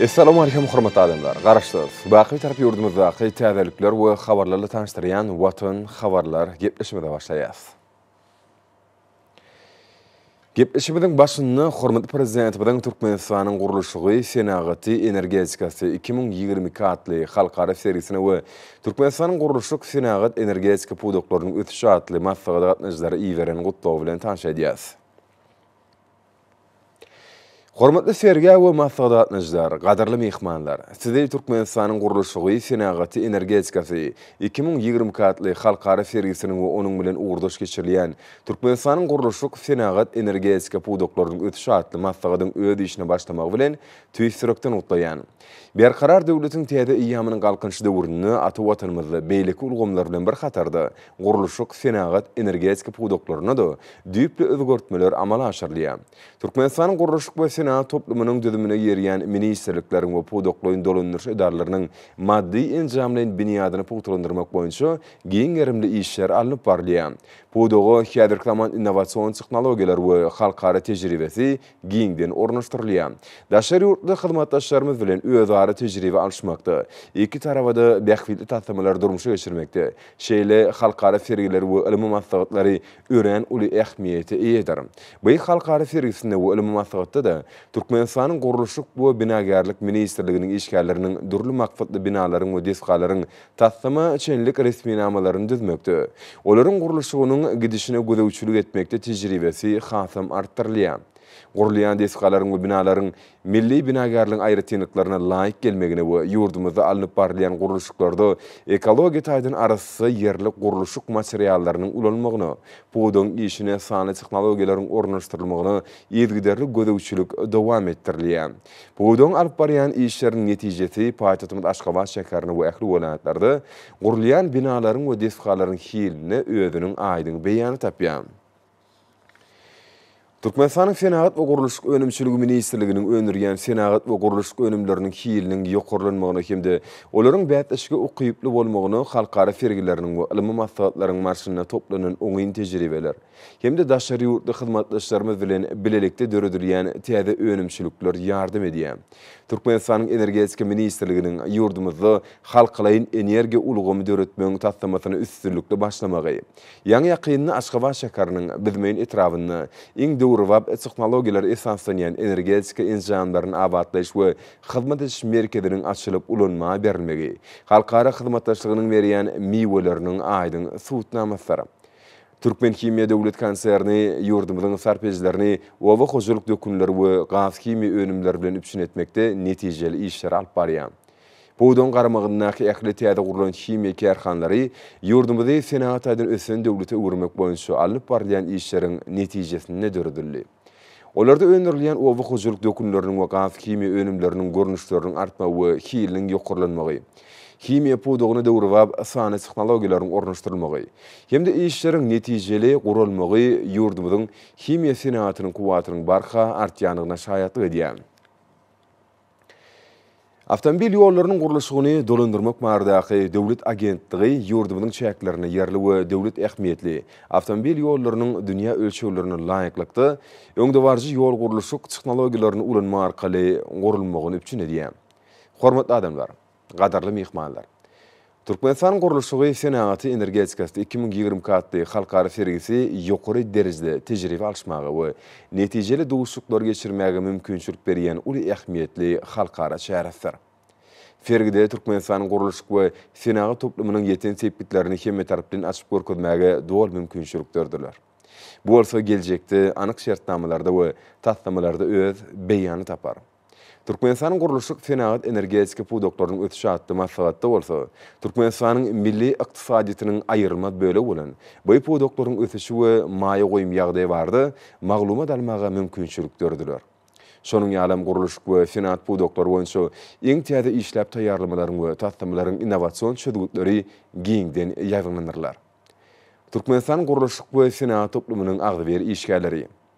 Essalamu Aleýkum hormatly adamlar! Garaşsyz, Baky Bitarap ýurdumyzdaky täzelikler we habarlarla tanyşdyrýan Watan habarlar gepleşimize başlaýas. Gepleşimiziň başynda hormatly Prezidentimiziň Türkmenistanyň gurluşygy, senagaty, energetikasy iki müň ýigrimi iki atly halkara sergisine we Türkmenistanyň gurluşyk, senagat, energetika pudaklarynyň ösüşi atly maslahata gatnaşyjylara iberen gutlawy bilen tanyş edýäs. Hormatly Sergä we maslahat gatnaşyjylar, gadyrly myhmanlar! Sizi Türkmenistanyň gurluşygy, senagaty, energetikasy iki müň ýigrimi iki atly halkara sergisiniň we onuň bilen ugurdaş geçirilýän Türkmenistanyň gurluşyk, senagat, energetika pudaklarynyň ösüşi atly maslahatyň öz işine başlamagy bilen tüýs ýürekden gutlaýan. Berkarar döwletiň täze eýýamynyň Galkynyş döwründe ata Watanymyzda beýleki ulgamlar bilen bir hatarda, gurluşyk, senagat, energetika pudaklarynda-da düýpli özgertmeler amala aşyrylýar. Türkmenistanyň gurluşyk we senagat toplumynyň düzümine girýän ministrlikleriň we pudaklaýyn dolandyryş edaralarynyň maddy-enjamlaýyn binýadyny pugtalandyrmak boýunça giň gerimli işler alnyp barylýar. Pudaga häzirki zaman innowasion tehnologiýalar we halkara tejribesi giňden ornaşdyrylýar. Daşary ýurtly hyzmatdaşlarymyz bilen özara tejribe alyşmakda, iki taraba-da bähbitli taslamalary durmuşa geçirmekde şeýle halkara sergiler we ylmy maslahatlary örän uly ähmiýete eýedir. By halkara sergisinde we ylmy maslahatda-da Türkmenistanyň Gurluşyk we binagärlik ministrliginiň işgärleriniň dürli maksatly binalaryň we desgalaryň taslama çenlik resminamalaryny düzmekde, olaryň gurluşygynyň gidişine gözegçilik etmekde tejribesi hasam artdyrylýar. Gurulýan desgalaryň we binalaryň milli binagärligiň aýratynlyklaryna laýyk gelmegine we ýurdumyzda alnyp barylýan gurluşyklarda ekologiýa taýdan arassa ýerli gurluşyk materiallarynyň ulanmagyna, pudagyň işine sanly tehnologiýalaryň ornaşdyrylmagyna yzygiderli gözegçilik dowam etdirilýär. Pudagyň alyp barýan işleriniň netijesi paýtagtymyz Aşgabat şäherinde we ähli welaýatlarda gurulýan binalaryň we desgalaryň hilinde özüniň aýdyň beýanyny tapýar. Türkmenistanyň Senagat we gurluşyk önümçiligi ministrliginiň öndürýän senagat we gurluşyk önümleriniň hiliniň ýokarlanmagyna hem-de olaryň bäsleşige ukyply bolmagyna halkara sergileriniň we ylmy maslahatlaryň barşynda toplanan oňyn tejribeler, hem-de daşary ýurtly hyzmatdaşlarymyz bilen bilelikde döredilýän täze önümçilikler ýardam edýär. Türkmenistanyň Energetika ministrliginiň ýurdumyzda halkalaýyn energiýa ulgamy döretmegiň taslamasyna üstünlikli başlamagy, ýaňy-ýakynda Aşgabat şäheriniň Büzmeýin etrabynda iň döwrebap tehnologiýalara esaslanýan energetika enjamlaryny abatlaýyş we hyzmat ediş merkeziniň açylyp ulanmaga berilmegi halkara hyzmatdaşlygynyň berýän miweleriniň aýdyň subutnamasydyr. Türkmenhimiýa döwlet konserni ýurdumyzyň sarp edijilerini oba hojalyk dökünleri we gazhimiýa önümleri bilen üpjün etmekde netijeli işleri alyp barýar. Pudagyň garamagyndaky ähli täze gurlan himiýa kärhanalary ýurdumyzy senagat taýdan ösen döwlete öwürmek boýunça alnyp barylýan işleriň netijesinde döredildi. Olarda öndürilýän oba hojalyk dökünleriniň we gazhimiýa önümleriniň görnüşleriniň artmagy we hiliniň ýokarlanmagy, himiýa pudagyna döwrebap sanly tehnologiýalaryň ornaşdyrylmagy hem-de işleriň netijeli guralmagy ýurdumyzyň himiýa senagatynyň kuwwatynyň barha artýandygyna şaýatlyk edýär. Awtomobil ýollarynyň gurluşygyny dolandyrmak baradaky döwlet agentligi ýurdumyzyň çäklerinde ýerli we döwlet ähmiýetli awtomobil ýollarynyň dünýä ölçeglerine laýyklykda, öňdebaryjy ýol-gurluşyk tehnologiýalaryny ulanmak arkaly gurulmagyny üpjün edýär. Hormatly adamlar! Gadyrly myhmanlar! Türkmenistan gurluşygy senagaty energetikasy iki müň ýigrimi iki atly halkara sergisi ýokary derejede tejribe alyşmaga we netijeli duşuşyklar geçirmäge mümkinçilik berýän uly ähmiýetli halkara çäresidir. Sergide Türkmenistanyň gurluşyk we senagat toplumynyň ýeten sepgitlerini hemmetaraplaýyn açyp görkezmäge doly mümkinçilik dörediler. Bu bolsa geljekde anyk şertnamalarda we taslamalarda öz beýanyny tapar. Türkmenistanyň gurluşyk, senagat, energetika pudaklarynyň ösüşi atly maslahatda bolsa, Türkmenistanyň milli ykdysadyýetiniň aýrylmaz bölegi bolan bu pudaklaryň ösüşi we maýa goýum ýagdaýy barada maglumat almaga mümkinçilik dörediler. Şonuň ýaly hem gurluşyk we senagat pudaklary boýunça iň täze işläp taýýarlamalaryň we taslamalaryň innowasion çözgütleri giňden ýaýbaňlandyrylar. Türkmenistanyň gurluşyk we senagat toplumynyň agzybir işgärleri.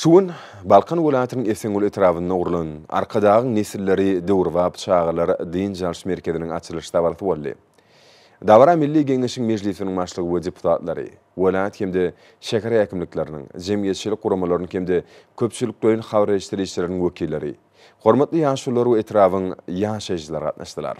Şu gün Balkan welaýatynyň Esenguly etrabynda gurlan Arkadagyň nesilleri döwrebap çagalar dynç alyş merkeziniň açylyş dabarasy boldy. Dabara Milli Geňeşiň Mejlisiniň Başlygy we deputatlary, welaýat hem-de şäher häkimlikleriniň, jemgyýetçilik guramalarynyň hem-de köpçülikleýin habarleşdirişileriň wekilleri, hormatly ýaşulular we etrabyň ýaşaýjylary gatnaşdylar.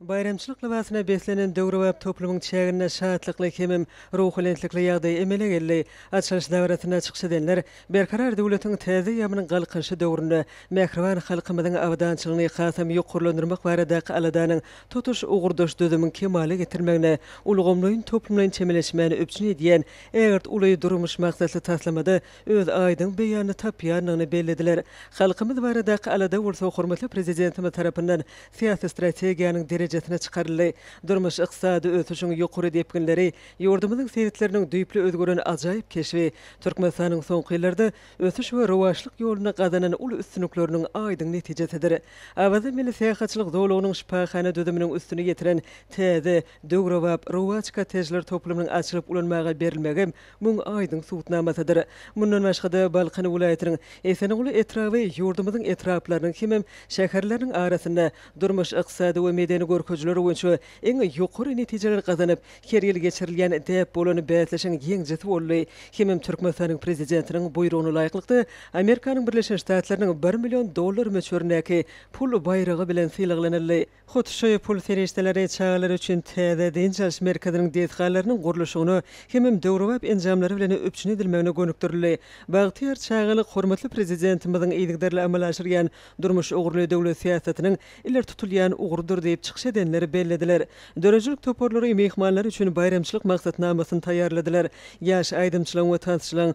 Baýramçylyk lybasyna beslenen döwrebap toplumyň çäginde şatlykly hemem ruhubelentlikli ýagdaý emele geldi. Açylyş dabarasynda çykyş edenler Berkarar döwletiň täze ýamynyň galkynyşy döwründe mähriban halkymyzyň abadançylygyny hasam ýokarlandyrmak baradaky aladanyň tutuş ugurdaş düzümiň kemala getirmegine ulgamlaýyn-toplumlaýyn çemeleşmäni üpjün edýän ägirt uly durmuş maksatly taslamada öz aýdyň beýanyny tapýandygyny bellediler. Halkymyz baradaky alada bolsa hormatly Prezidentimiz tarapyndan syýasy strategiýanyň derejesine çykaryldy. Durmuş-ykdysady ösüşiň ýokary depginleri, ýurdumyzyň sebitleriniň düýpli özgeren ajaýyp keşbi Türkmenistanyň soňky ýyllarda ösüş we rowaçlyk ýolunda gazanan uly üstünlikleriniň aýdyň netijesidir. Awaza milli syýahatçylyk zolagynyň şypahana düzüminiň üstüni ýetiren täze, döwrebap, rowaç kottejler toplumynyň açylyp ulanmaga berilmegem Muň aýdyň subutnamasydyr. Mundan başga-da, Balkan welaýatynyň Esenguly etraby ýurdumyzyň etraplarynyň hemem şäherleriniň arasynda durmuş, ykdysady we medeni görkezijiler boýunça iň ýokary netijeleri gazanyp, her ýyl geçirilýän däp bolan bäsleşigiň ýeňijisi boldy hemem Türkmenistanyň Prezidentiniň buýrugyna laýyklykda Amerikanyň Birleşen Ştatlarynyň bir million dollar möçberindäki pul baýragy bilen sylaglanyldy. Hut şu pul serişdeleri çagalar üçin täze dynç alyş merkeziniň desgalarynyň gurluşygyna hemem döwrebap enjamlary bilen üpjün edilmegine gönükdirildi. Bagtyýar çagalyk hormatly Prezidentimiziň yzygiderli amala aşyrýan durmuş ugurly döwlet syýasatynyň ileri tutulýan ugrudyr diýip, çykyş edenler bellediler. Döredijilik toparlary myhmanlar üçin baýramçylyk maksatnamasyny taýýarladylar. Ýaş aýdymçylaryň we tansçylaryň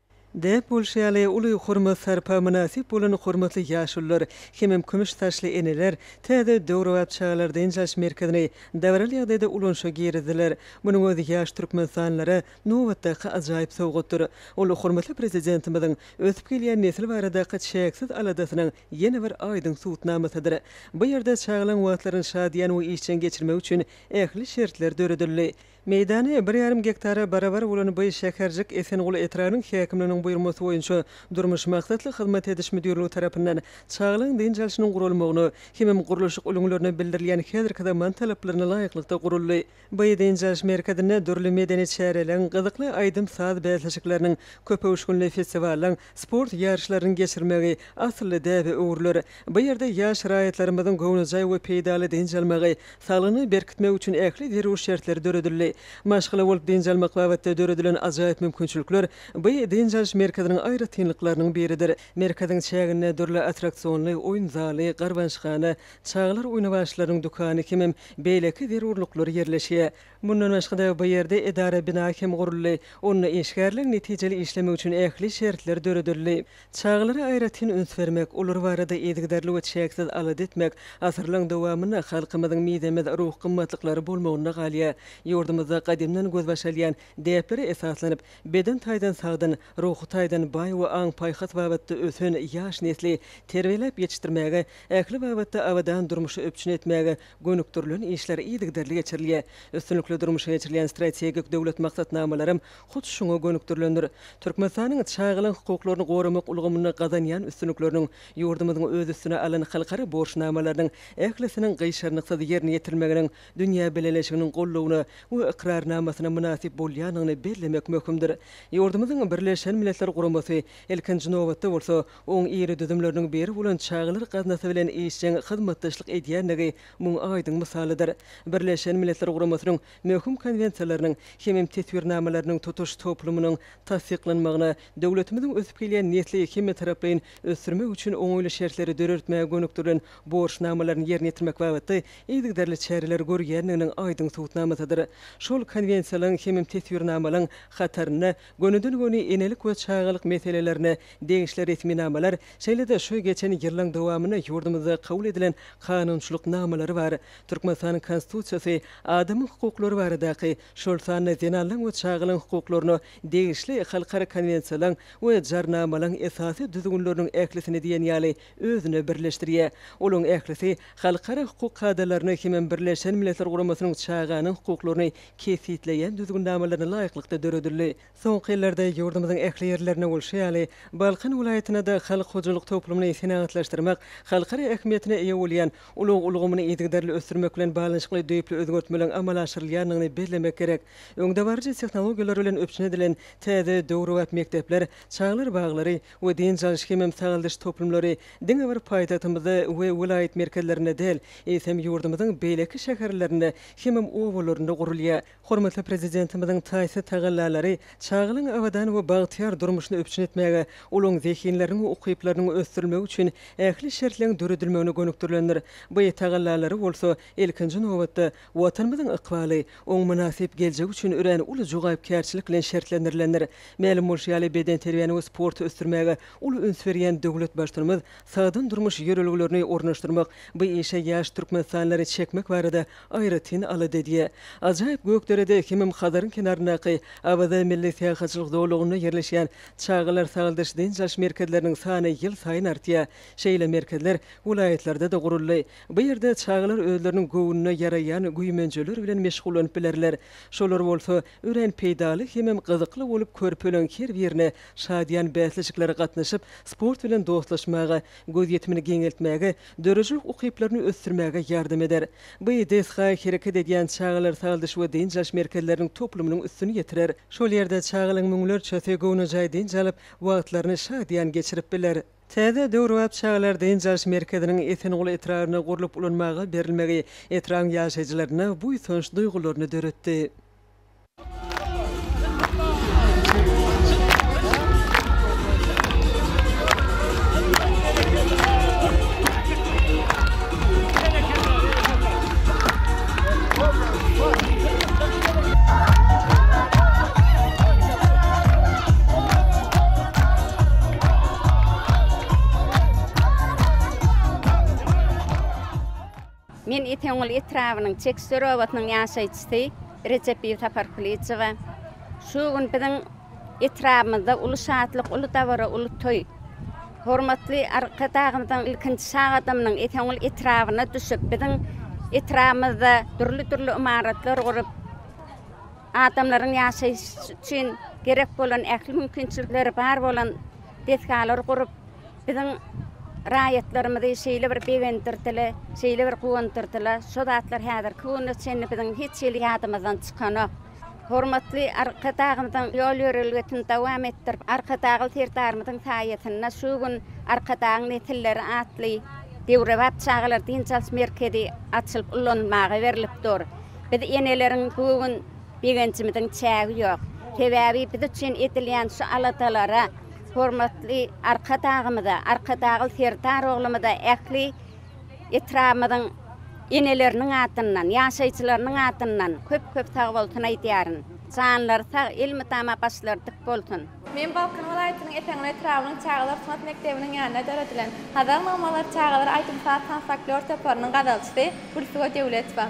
Däp bolşy ýaly, uly hormat-sarpa mynasyp bolan hormatly ýaşulular hemem kümüş saçly eneler täze döwrebap çagalar dynç alyş merkezini dabaraly ýagdaýda ulanyşa girizdiler. Munuň özi ýaş türkmenistanlylara nobatdaky ajaýyp sowgatdyr. Ol hormatly Prezidentimiziň ösüp gelýän nesil baradaky çäksiz aladasynyň ýene bir aýdyň subutnamasydyr. Bu ýerde çagalaň wagtlaryny şadyýan we işjeň geçirmek üçin ähli şertler döredildi. Meýdany bir ýarym gektara barabar bolan bu şäherjik Esenguly etrabynyň häkimliginiň buýurmasy boýunça Durmuş maksatly hyzmat ediş müdirligi tarapyndan çagalaryň dynç alşynyň guralmagyna hemem gurluşyk ulgmlerine bildirilýän häzirki zaman talaplaryna laýyklykda guruldy. Bu dynç alyş merkezinde dürli medeni çäreleriň, gyzykly aýdym-saz bäsleşikleriniň, köpöwüşginli festiwallaryň, Sport ýaryşlaryny geçirmegi asylly däbe öwrüler. Bu ýerde ýaş raýatlarymyzyň göwnejaý we peýdaly dynç almagy, saglygyny berkitmegi üçin ähli zerur şertler döredildi. Maşgala bolup dynç almak babatda döredilen ajaýyp mümkinçilikler bu dynç alyş merkeziniň aýratynlyklarynyň biridir. Merkeziň çäginde dürli attraksionly oýun zaly, garbançhana, çagalar oýnawaçlarynyň dükany hemem beýleki zerurlyklar ýerleşýär. Mundan başga-da, bu ýerde edara bina hem guruldy. Onda işgärler netijeli işlemek üçin ähli şertler döredildi. Çagalara aýratyn üns bermek, olar barada yzygiderli we çäksiz alada etmek asyrlaryň dowamynda halkymyzyň mizemez ruhy gymmatlyklary bolmagynda galýar. Ýurdumyzda gadymdan gözbaş alýan däplere esaslanyp, beden taýdan sagdyn, ruhy taýdan baý we aň-paýhas babatda ösen ýaş nesli terbiýeläp ýetişdirmäge, ähli babatda abadan durmuşy üpjün etmäge gönükdirilen işler yzygiderli geçirilýär. Üstünlikli durmuşa geçirilýän strategik döwlet maksatnamalarym hut şuňa gönükdirilendir. Türkmenistanyň çagalar hukuklaryny goramak ulgamynda gazanýan üstünlikleriniň, ýurdumyzyň öz üstüne alan halkara borçnamalarynyň ählisiniň gyşarnyksyz ýerine ýetirilmeginiň dünýä bileleşiginiň goldawyna we ykrarnamasyna mynasyp bolýandygyny bellemek möhümdir. Ýurdumyzyň Birleşen Milletler Guramasy, ilkinji nobatda bolsa, Oň iri düzümleriniň biri bolan Çagalar gaznasy bilen işjeň hyzmatdaşlyk edýändigi muň aýdyň mysalydyr. Birleşen Milletler Guramasynyň möhüm konwensiýalarynyň hemem teswirnamalarynyň tutuş toplumynyň tassyklanmagyna, döwletimiziň ösüp gelýän nesli hemmetaraplaýyn ösdürmek üçin oňaýly şertleri dörertmäge gönükdirilen borçnamalaryny ýerine ýetirmek babatda yzygiderli çäreler görýändiginiň aýdyň subutnamasydyr. Şol konwensiýalaryň hemem teswirnamalaryň hatarynda Gönüden-göni enelik we çagalyk meselelerine degişli resminamalar, şeýle-de şu geçen ýyllaň dowamynda ýurdumyzda kabul edilen kanunçylyk namalary bar. Türkmenistanyň Konstitusiýasy adamyň hukuklary baradaky, şol sanda zenanlaň we çagalaň hukuklaryna degişli halkara konwensiýalaň we jarnamalaň esasy düzgünleriniň ählisini diýen ýaly özüne birleşdirýär. Olaň ählisi halkara hukuk kadalaryna hemem Birleşen Milletler Guramasynyň çaganyň hukuklaryny kesgitleýän düzgünnamalary laýyklykda döredildi. Soňky ýyllarda ýurdumyzyň ähli ýerlerinde bolşy ýaly, Balkan welaýatynda-da halk hojalyk toplumyny senagatlaşdyrmak, halkara ähmiýetine eýe bolýan ulag ulgamyny yzygiderli ösdürmek bilen baglanyşykly düýpli özgertmeleriň amala aşyrylýandygyny bellemek gerek. Öňdebaryjy tehnologiýalar bilen üpjün edilen täze döwrebap mekdepler, çagalar baglary we dynç alyş hemem sagaldyş toplumlary diňe bir paýtagtymyzda we welaýat merkezlerinde däl, eýsem ýurdumyzyň beýleki şäherlerinde hemem obalarynda gurulýar. Hormatly Prezidentimiziň taýsyz tagallalary çagalaryň abadan we bagtyýar durmuşyny üpjün etmäge, olaryň zehinleriniň we ukyplarynyň ösdürilmegi üçin ähli şertleň döredilmegine gönükdirilendir. Bu tagallalary bolsa, ilkinji nobatda, Watanymyzyň ykbaly, oň mynasyp geljegi üçin örän uly jogapkärçilik bilen şertlendirilendir. Mälim bolşy ýaly, bedenterbiýäni we sporty ösdürmäge uly üns berýän döwlet Baştutanymyz Sagdyn durmuş ýörelgelerini ornaşdyrmak, bu işe ýaş türkmenistanlary çekmek barada aýratyn alada edýär. Ajaýyp Gökderede hemem Hazaryň kenaryndaky Awaza milli syýahatçylyk zolagynda ýerleşýän çagalar sagaldyş-dynç alyş merkezleriniň sany ýylsaýyn artýar. Şeýle merkezler welaýatlarda-da guruldy. Bu ýerde çagalar özleriniň göwnüne ýaraýan güýmenjeler bilen meşgullanyp bilerler. Şolar bolsa, Örän peýdaly hemem gyzykly bolup körpeleriň her birine şadyýan bäsleşiklere gatnaşyp, sport bilen dostlaşmaga, gözýetimini giňeltmäge, döredijilik ukyplaryny ösdürmäge ýardam eder. Bu desga hereket edýän çagalar sagaldyş we dynç alyş merkezleriniň toplumynyň üstüni ýetirer. Şol ýerde çagalaryň müňlerçesi göwnejaý dynç alyp, wagtlaryny şadyýan geçirip biler. Täze döwrebap çagalar dynç alyş merkeziniň Esenguly etrabynda gurlup ulanmaga berilmegi etrabyň ýaşaýjylarynda buýsanç duýgularyny döretdi. Men Esenguly etrabynyň Çeksöre obasynyň ýaşaýjysy Rejepiýew Sapar Kulyjowa. Şu gün biziň etrabymyzda uly şatlyk, uly dabara, uly toý. Hormatly Arkadagymyzyň ilkinji sag adamynyň Esenguly etrabyna düşüp, biziň etrabymyzda dürli-dürli ymaratlar gurup, Adamlaryň ýaşaýşy üçin gerek bolan ähli mümkinçilikleri bar bolan desgalary gurup, biziň raýatlarymyzy şeýle bir begendirdiler, şeýle bir guwandyrdylar, şo zatlar häzirki güne çenli biziň hiç hili ýadymyzdan çykanok. Hormatly Arkadagymyzyň ýol-ýörelgesini dowam etdirip, Arkadagly Serdarymyzyň saýasynda şu gün Arkadagyň nesilleri atly döwrebap çagalar dynç alyş merkezi açylyp ulanylmaga berlip dur. Biz eneleriň bu gün begenjimiziň çägi ýok. Sebäbi biz üçin edilýän şu aladalara, hormatly Arkadagymyza, Arkadagly Serdar oglumyza ähli etrabymyzyň eneleriniň adyndan, ýaşaýjylarynyň adyndan köp-köp sagbolsun aýdýaryn. Janlary sag, elmydama başlary dik bolsun! Men Balkan welaýatynyň Eseňňir etrabynyň çagalar sungat mekdebiniň ýanynda döredilen Hazar namalar çagalar aýdym-saz tans-folklor toparynyň gazalçysy Gülsuwa Döwletowa.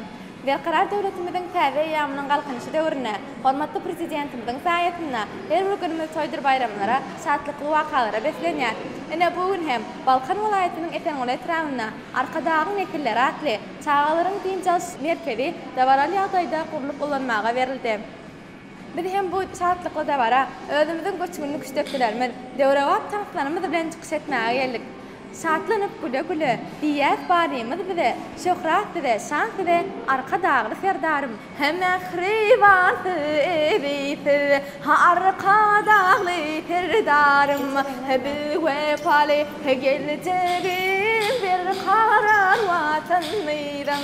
Berkarar döwletimiziň täze eýýamynyň Galkynyşy döwründe hormatly Prezidentimiziň saýasynda her bir günümiz toýdur-baýramlara, şatlykly wakalara beslenýär. Ine, bu gün hem Balkan welaýatynyň Eseňňir etrabynda Arkadagyň nesilleri atly çagalaryň dynç alyş merkezi dabaraly ýagdaýda gurlup ulanmaga berildi. Biz hem bu şatlykly dabara özümiziň göçgünli küştekçilerimiz, döwrebap tanslarymyz bilen çykyş etmäge geldik. Şatlanyp, güle-güle, diýýäs Badymyz bize, şöhrat bize, şan size, Arkadagly Serdarym! He mähribansyz, ebidsiz, he Arkadagly Serdarym! He biwepaly, he geljegi berkarar Watanymyzyň!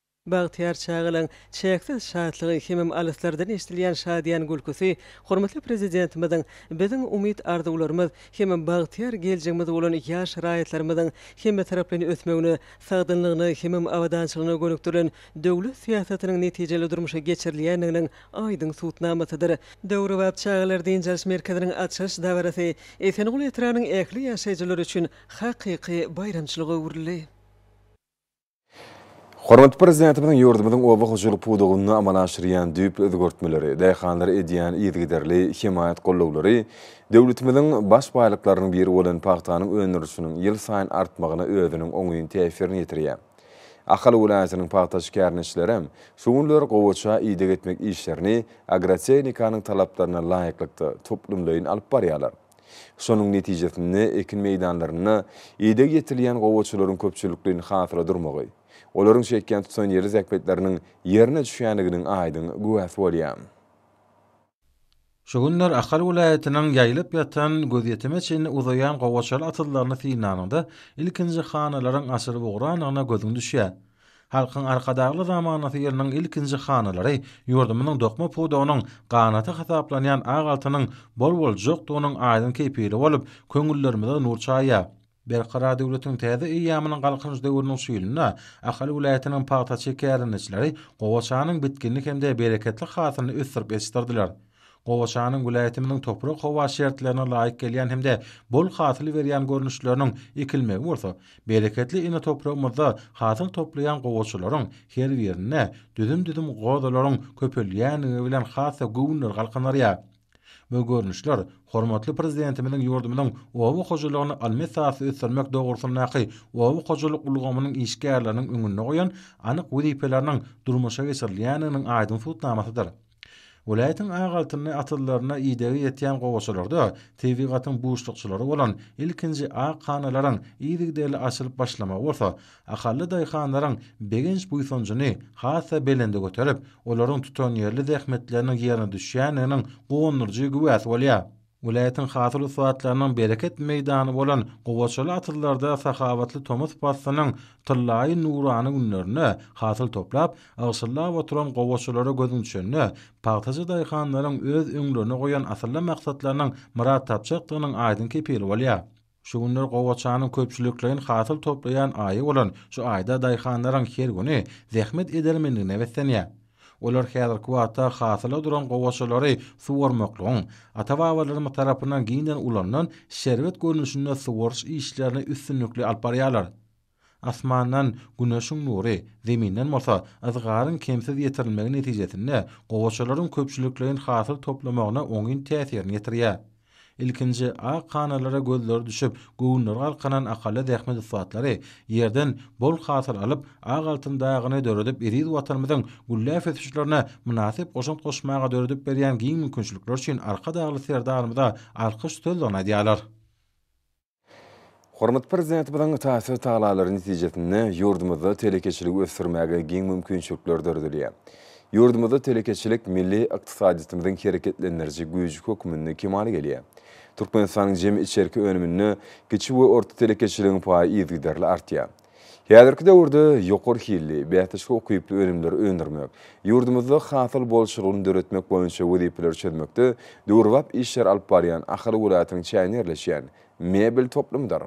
Bagtyýar çagalaň çäksiz şatlygy hemem alyslardan eşdilýän şadyýan gülküsi hormatly Prezidentimiziň biziň umyt-arzuwlarymyz hemem bagtyýar geljegimiz bolan ýaş raýatlarymyzyň hemmetaraplaýyn ösmegine, sagdynlygyna hemem abadançylygyna gönükdirilen döwlet syýasatynyň netijeli durmuşa geçirilýändiginiň aýdyň subutnamasydyr. Döwrebap çagalar dynç alyş merkeziniň açylyş dabarasy Esenguly etrabynyň ähli ýaşaýjylary üçin hakyky baýramçylyga öwrüldi. Hormatly Prezidentimiziň ýurdumyzyň oba hojalyk pudagynda amala aşyrýan düýpli özgertmeleri, daýhanlara edýän yzygiderli hemaýat-gollawlary döwletimiziň baş baýlyklarynyň biri bolan pagtanyň öndürilişiniň ýylsaýyn artmagyna özüniň oňyn täsirini ýetirýär. Ahal welaýatynyň pagta şikärlenişlerem şu günler gowaça ideg etmek işlerini agrotehnikanyň talaplaryna laýyklykda, toplumlaýyn alyp barýarlar. Şonuň netijesinde ekin meýdanlarynda ideg ýetirilýän gowaçalaryň köpçülikleýin hasyla durmagy, olaryň çekýän tutanýerli zähmetleriniň ýerine düşýändiginiň aýdyň güwäsi bolýar. Şu günler Ahal welaýatynyň ýaýylyp ýatan, gözýetime çenli uzaýan gowaçaly atyrlaryny synlanyňda, ilkinji hanalaryň açylyp ugranyna gözüň düşýär. Halkyň Arkadagly zamanasy ýylynyň ilkinji hanalary ýurdumyzyň dokma pudagynyň ganaty hasaplanýan ak altynyň bol-boljkdygynyň aýdyň kepili bolup, köňüllerimize nur çaýýar. Berkarar döwletiň täze eýýamynyň Galkynyş döwrüniň şu ýylynda Ahal welaýatynyň pagtaçy kärendeçileri gowaçanyň bitginli hem-de bereketli hasylyny ösdürip ýetişdirdiler. Gowaçanyň welaýatymyzyň toprak-howa şertlerine laýyk gelýän hem-de bol hasyl berýän görnüşleriniň ekilmegi bolsa, bereketli ene topragymyzda hasyl toplaýan gowaçalaryň her birinde düzüm-düzüm gozalaryň köpelýändigi bilen has-da göwünleri galkynarýar. Bu görnüşler hormatly Prezidentimiziň ýurdumyzyň oba hojalygyny ylmy esasda ösdürmek dogrusyndaky oba hojalyk ulgamynyň işgärleriniň öňünde goýan anyk wezipeleriniň durmuşa geçirilýändiginiň aýdyň subutnamasydyr. Welaýatyň ak altynly atyzlaryna idegi ýetýän gowaçalarda tebigatyň buşlukçylary bolan ilkinji ak hanalaryň yzygiderli açylyp başlamagy bolsa, akylly daýhanlaryň begenç-buýsanjyny has-da belende göterip, olaryň tutanýerli zähmetleriniň ýerine düşýändiginiň guwandyryjy güwäsi bolýar. Welaýatyň hasyl ussatlarynyň bereket meýdany bolan gowaçaly atyzlarda sahawatly tomus paslynyň tyllaýy nurana günlerinde hasyl toplap, ygşyllap oturan gowaçalara gözüň düşende, pagtaçy daýhanlaryň öz öňlerine goýan asylly maksatlarynyň myrat tapjakdygynyň aýdyň kepili bolýar. Şu günler gowaçanyň köpçülikleýin hasyl toplaýan aýy bolan şu aýda daýhanlaryň her güni zähmet edermenligine beslenýär. Olar häzirki wagtda hasyla duran gowaçalary suwarmaklygyň ata-babalarymyz tarapyndan giňden ulanylan şerbet görnüşinde suwaryş işlerini üstünlikli alyp barýarlar. Asmandan Güneşiň nury, Zeminden bolsa yzgaryň kemsiz ýetirilmegi netijesinde gowaçalaryň köpçülikleýin hasyl toplamagyna oňyn täsirini ýetirýär. Ilkinji ak hanalara gözleri düşüp, göwünleri galkanan akylly zähmet ussatlary ýerden bol hasyl alyp, ak altyn dagyny döredip eziz Watanymyzyň gülläp ösüşlerine mynasyp goşant goşmaga döredip berýän giň mümkinçilikler üçin Arkadagly Serdarymyza alkyş sözlerini aýdýarlar. Hormatly Prezidentimiziň taýsyz tagalary netijesinde ýurdumyzda telekeçiligi ösdürmäge giň mümkinçilikler döredilýär. Ýurdumyzda telekeçilik milli ykdysadyýetimiziň hereketlendiriji güýji hökmünde kemala gelýär. Türkmenistanyň jemi içerki önüminde kiçi we orta telekeçiligiň paýy yzygiderli artýar. Häzirki döwürde ýokary hilli, bäsdeşik ukyply önümleri öndürmek, ýurdumyzda hasyl bolçulygyny döretmek boýunça wezipeleri çözmekde döwrebap işleri alyp barýan Ahal welaýatynyň çäginde ýerleşýän Mebel toplumydyr.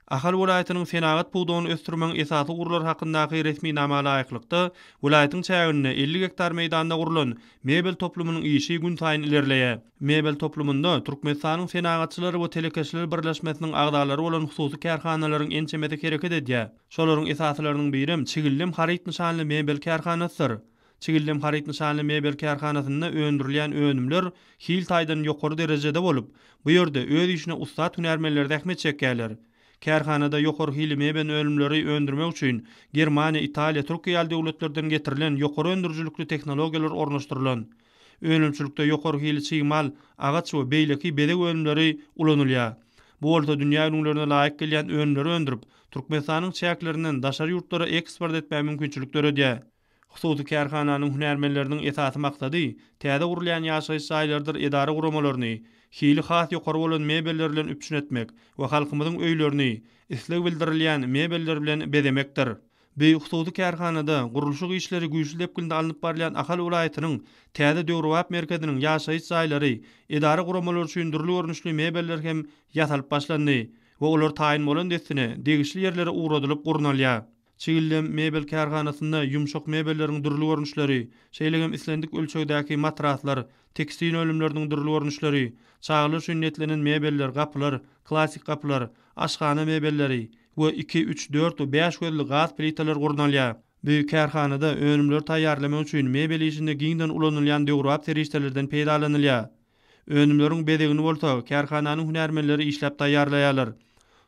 Ahal welaýatynyň senagat pudagyny ösdürmegiň esasy ugurlary hakyndaky resminama laýyklykda, welaýatyň çäginde elli gektar meýdanda gurlan Mebel toplumynyň işi günsaýyn ilerleýär. Mebel toplumynda Türkmenistanyň Senagatçylar we telekeçiler birleşmesiniň agzalary bolan hususy kärhanalaryň ençemesi hereket edýär. Şolaryň esasylarynyň birem Çigildem haryt nyşanly mebel kärhanasydyr. Çigildem haryt nyşanly mebel kärhanasynda öndürilýän önümler hil taýdan ýokary derejede bolup, bu ýerde öz işine ussat hünärmenler zähmet çekýärler. Kärhanada ýokary hili meben önümleri öndürmek üçin Germaniýa, Italiýa, Türkiýe ýaly döwletlerden getirilen ýokary öndürijilikli tehnologiýalar ornaşdyrylan. Önümçilikde ýokary hili çig mal, agaç we beýleki bezeg önümleri ulanylýar. Bu bolsa dünýä ülňülerine laýyk gelýän önümleri öndürip, Türkmenistanyň çäklerinden daşary ýurtlara eksport etmäge mümkinçilik döredýär. Hususy kärhananyň hünärmenleriniň esasy maksady täze gurulýan ýaşaýyş jaýlarydyr edara-guramalaryny hili has ýokary bolan mebeller bilen üpjün etmek we halkymyzyň öýlerini isleg bildirilýän mebeller bilen bezemekdir. Beýik hususy kärhanada gurluşyk işleri güýçli depginde alnyp barylýan Ahal welaýatynyň täze döwrebap merkeziniň ýaşaýyş jaýlary, edara guramalary üçin dürli görnüşli mebeller hem ýasalyp başlandy we olar taýyn bolan dessine degişli ýerlere ugradylyp gurnalýar. Çigildem mebel kärhanasynda ýumşak mebelleriň dürli görnüşleri, şeýle hem islendik ölçegdäki matraslar, tekstil önümleriniň dürli görnüşleri, çagalar üçin niýetlenen mebeller, gapylar, klassyk gapylar, aşhana mebelleri, we iki, üç, dört we bäş gözli gaz plitalary gurnalýar. Bu kärhanada önümleri taýýarlamak üçin mebel işinde giňden ulanylýan döwrebap serişdelerden peýdalanylýar. Önümleriň bezegini bolsa kärhananyň hünärmenleri işläp taýýarlaýarlar.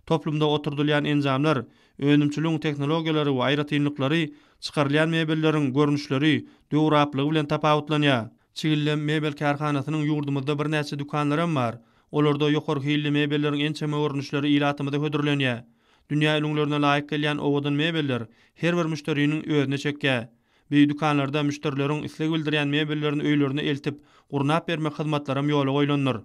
Toplumda oturdylýan enjamlar, önümçiligiň tehnologiýalary we aýratynlyklary çykarylýan mebelleriň görnüşleri, döwrebaplygy bilen tapawutlanýar. Çigildem mebel kärhanasynyň ýurdumyzda birnäçe dükanlaram bar. Olarda ýokary hilli mebelleriň ençeme görnüşleri ilatymyza hödürlenýär. Dünýä ülňülerine laýyk gelýän owadan mebeller her bir müşderiniň özüne çekýär. Bi dükanlarda müşderileriň isleg bildirýän mebellerini öýlerine eltip, gurnap bermek hyzmatlaram ýola goýlandyr.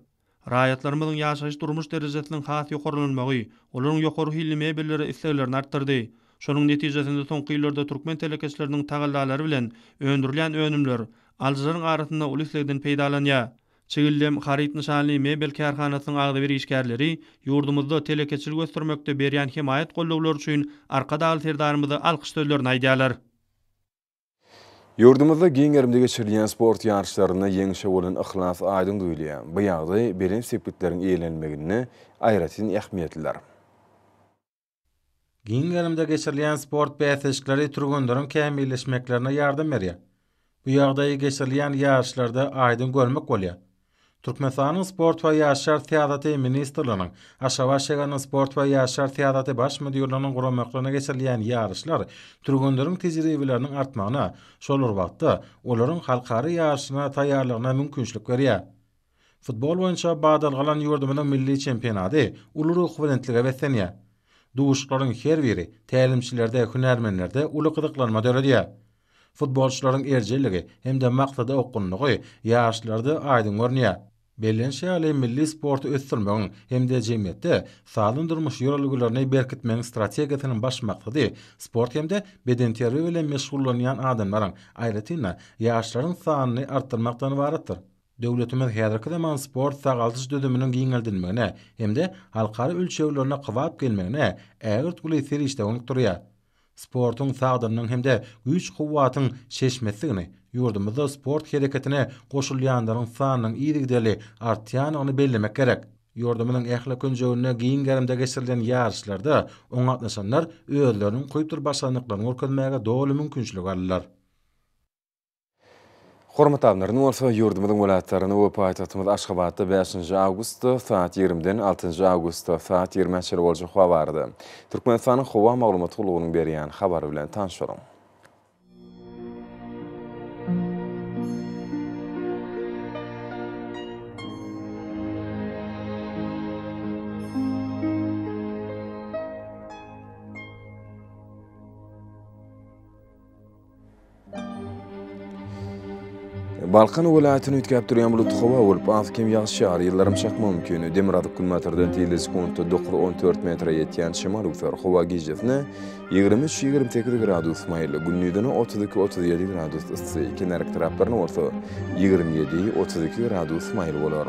Raýatlarymyzyň ýaşaýyş-durmuş derejesiniň has ýokarlanylmagy olaryň ýokary hilli mebellere isleglerini artdyrdy. Şonuň netijesinde soňky ýyllarda türkmen telekeçileriniň tagallalary bilen öndürilýän önümler alyjylaryň arasynda uly islegden peýdalanýar. Çigildem haryt nyşanly mebel kärhanasynyň agzybir işgärleri ýurdumyzda telekeçilik ösdürmekde berýän hemaýat gollawlary üçin Arkadagly Serdarymyza alkyş sözlerini aýdýarlar. Ýurdumyzda giň gerimde geçirilýän sport ýaryşlarynda ýeňişe bolan yhlas aýdyň duýulýar. Bu ýagdaý belent sepgitleriň eýelenilmeginde aýratyn ähmiýetlidir. Giň gerimde geçirilýän sport bäsleşikleri türgenleriň kämilleşmeklerine ýardam berýär. Bu ýagdaýy geçirilýän ýaryşlarda aýdyň görmek bolýar. Türkmenistanyň Sport we ýaşlar syýasaty ministrliginiň Aşgabat şäheriniň Sport we ýaşlar syýasaty baş müdirliginiň guramaklygyna geçirilýän ýaryşlar türgenleriň tejribeleriniň artmagyna, şol bir wagtda, olaryň halkara ýaryşlaryna taýýarlygyna mümkinçilik berýär. Futbol boýunça badalgalan ýurdumyzyň milli çempionady uly ruhubelentlige beslenýär. Duşuşyklaryň her biri tälimçilerde, hünärmenlerde uly gyzyklanma döredýär. Futbolçylaryň erjelligi hem-de maksada okgunlygy ýaşlarda aýdyň görünýär. Bellenişi ýaly, milli sporty ösdürmegiň hem-de jemgyýetde sagdyn durmuş ýörelgelerini berkitmegiň strategiýasynyň baş maksady sport hem-de bedenterbiýe bilen meşgullanýan adamlaryň, aýratyn-da, ýaşlaryň sanyny artdyrmakdan ybaratdyr. Döwletimiz häzirki zaman sport-sagaldyş düzüminiň giňeldilmegine hem-de halkara ölçeglerine kybap gelmegine ägirt uly serişde bolup durýar. Sportuň sagdynlygyň hem-de güýç-kuwwatyň çeşmesidigini, ýurdumyzda sport hereketine goşulýanlaryň sanynyň yzygiderli artýandygyny bellemek gerek. Ýurdumyzyň ähli künjeginde giň gerimde geçirilen ýaryşlarda oňa gatnaşanlar özleriniň kuýpdur başarnyklaryny görkezmäge doly mümkinçilik aldylar. Hormatly alymlar, indi bolsa ýurdumyzyň welaýatlarynda we paýtagtymyz Aşgabatda bäşinji awgustda saat ýigrimiden altynjy awgustda saat ýigrimä çenli boljak howa barada Türkmenistanyň howa maglumat gullugynyň berýän habary bilen tanşalyň. Balkan welaýatyny üýtgäp durýan bulut howa bolup, az-kem ýagyş ýagar, ýyldyrym çakmagy mümkin. Demirgazyk günbatardan tizligi sekuntda dokuz, on dört metre ýetýän şemal öwser. Howa gijesine ýigrimi üç, ýigrimi sekiz gradus maýyl, gündizine otuz iki, otuz ýedi gradus yssy, kenar etraplaryna bolsa ýigrimi ýedi, otuz iki gradus maýyl bolar.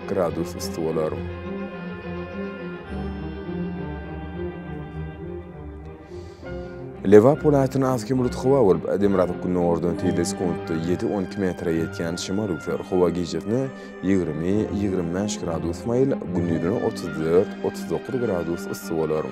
Gradus üsti bolar. Lebap welaýatyna az kem bulut howa bolup, demirgazyk gündogardan tizde sekuntda ýedi, on iki metre ýetýän şemal üwser. Howa gijasine ýigrimi, ýigrimi bäş gradus maýyl, gündizine otuz dört, otuz dokuz gradus yssy bolar.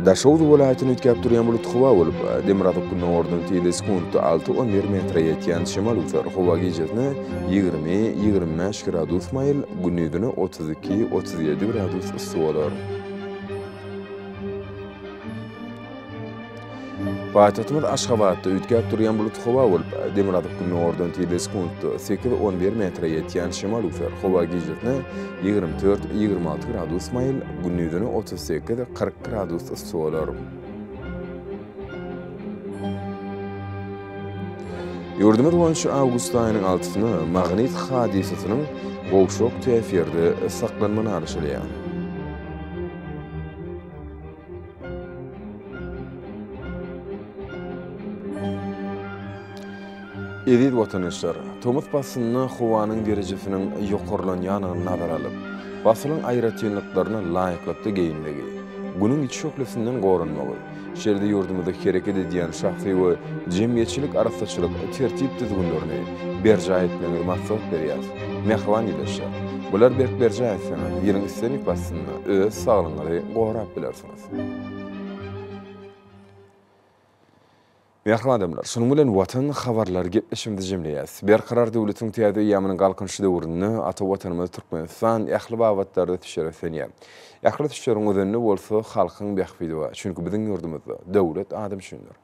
Daşoguz welaýatyny üýtgäp durýan bulut howa bolup, demirgazyk-gündogardan tizde sekuntda alty on bir metre ýetýän şemal üzer. Howa gijesine ýigrimi, ýigrimi bäş gradus maýyl, gündizine otuz iki, otuz ýedi gradus yssy bolar. Paýtagtymyz Aşgabatda üýtgäp durýan bulut howa bolup, demirgazyk gündogardan tizligi sekuntda sekiz, on bir metre ýetýän şemal üflär. Howa gijesine ýigrimi dört, ýigrimi alty gradus maýyl, gündizine otuz sekiz, kyrk gradus yssy bolar. Ýurdumyz boýunça awgust aýynyň altysyna magnit hadysasynyň gowşak täsirde saklanma naraşylýar. Eziz watandaşlar, tomus paslynda howanyň derejesiniň ýokarlanýandygyny nazara alyp, pasylyň aýratynlyklaryna laýyklykda geýinmegi, Günüň içi şöhlesinden goranmagy, şeýle-de ýurdumyzda hereket edýän şahsy we jemgyýetçilik arassaçylyk tertip-düzgünlerini berjaý etmegiňizi maslahat berýäris. Mähriban ildeşler! Bulary berk berjaý etseňiz, ýylyň islendik paslynda, öz saglygyňyzy gorap bilersiňiz. Mähriban adamlar, şunuň bilen Watan habarlary gepleşigimizi jemleýäris. Berkarar döwletiň täze eýýamynyň Galkynyşy döwründe ata Watanymyz Türkmenistan ähli babatlarda düşer ösenýär. Ähli düşeriň özenini bolsa halkyň bähbidi bar. Çünki biziň ýurdumyzda Döwlet adam üçindir.